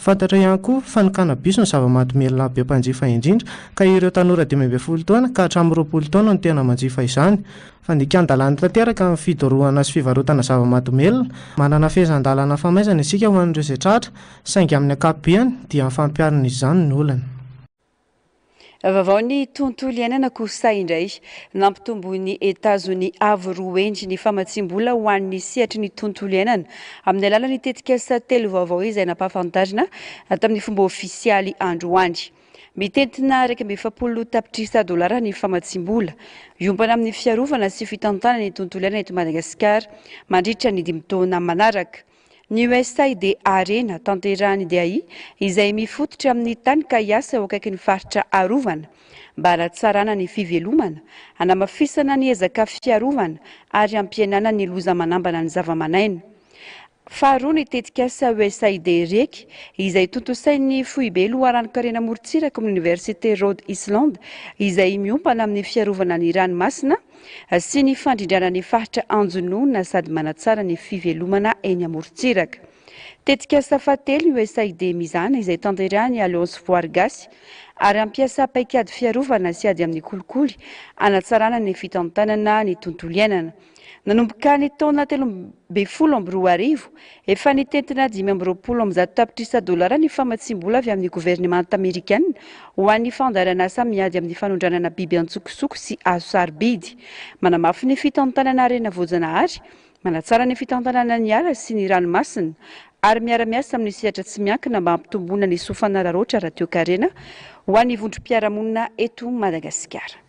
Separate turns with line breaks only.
Fantatra ihany koa fa ny cannabis no zava-mahadomelina be mpanjifa indrindra, ka ireo tanora dimy ambin'ny folo taona ka hatramin'ny roapolo taona no tena manjifa izany. Fandikan-dalàna tanteraka ny fidorohana sy fivarotana zava-mahadomelina. Manana fehezan-dalàna famaizana isika ho an'ireo izay tratra, saingy amin'ny ankapobeny dia ny fampiharana izany no olana.
Vaovao ny tontolo iainana kosa indray. Nampitomboin'i Etazoni avo roa hendry ny famatsiam-bola ho an'ny sehatry ny tontolo iainana amin'ny alalan'ny tetikasa telo vaovao izay nampahafantarina tamin'ny fomba ofisialy androany. Mitentina iraika amby efapolo tapitrisa dolara ny famatsiam-bola hiompana amin'ny fiarovana sy fitantanana ny tontolo iainana eto Madagasikara mandritra ny dimy taona manaraka. Ny USAID dia harena tanterahan'ny DAI izay mifototra amin'ny tany ka hiasa eo akaikin'ny faritra arovana mba hanatsarana ny fivelomana, hanamafisana ny ezaka fiarovana ary hampihenana ny loza manambana ny zavaman'aina. Faharoa ny tetikasa USAID REC izay tontosain'ny Foibe Loharanon-karena Morontsiraka amin'ny Oniversite Rhode Island izay miompana amin'ny fiarovana ny ranomasina, sy ny fandrindrana ny faritra anjonoana sady manatsara ny fivelomana eny amorontsiraka. Tetikasa fahatelo USAID mizana izay tanterahin'ny Alliance Voary Gasy ary hampiasa paikady fiarovana sy ady amin'ny kolikoly hanatsarana ny fitantanana ny tontolo iainana. Nanomboka ny taona telo ambin'ny folo amby roa arivo Efa nitentina dimy amby roapolo amby zato tapitrisa dolara ny famatsiam-bola avy amin'ny governemanta amerikanina ho an'ny fandaharan'asa miady amin'ny fanondranana biby an-tsokosoko sy hazo sarobidy. Manamafy ny fitantanana harena voajanahary, manatsara ny fitantanana ny ala sy ny ranomasina ary miara-miasa amin'ny sehatra tsy miankina mba hampitomboana ny soa fanararaotra ara-toekarena ho an'ny vondrom-piarahamonina eto Madagasikara.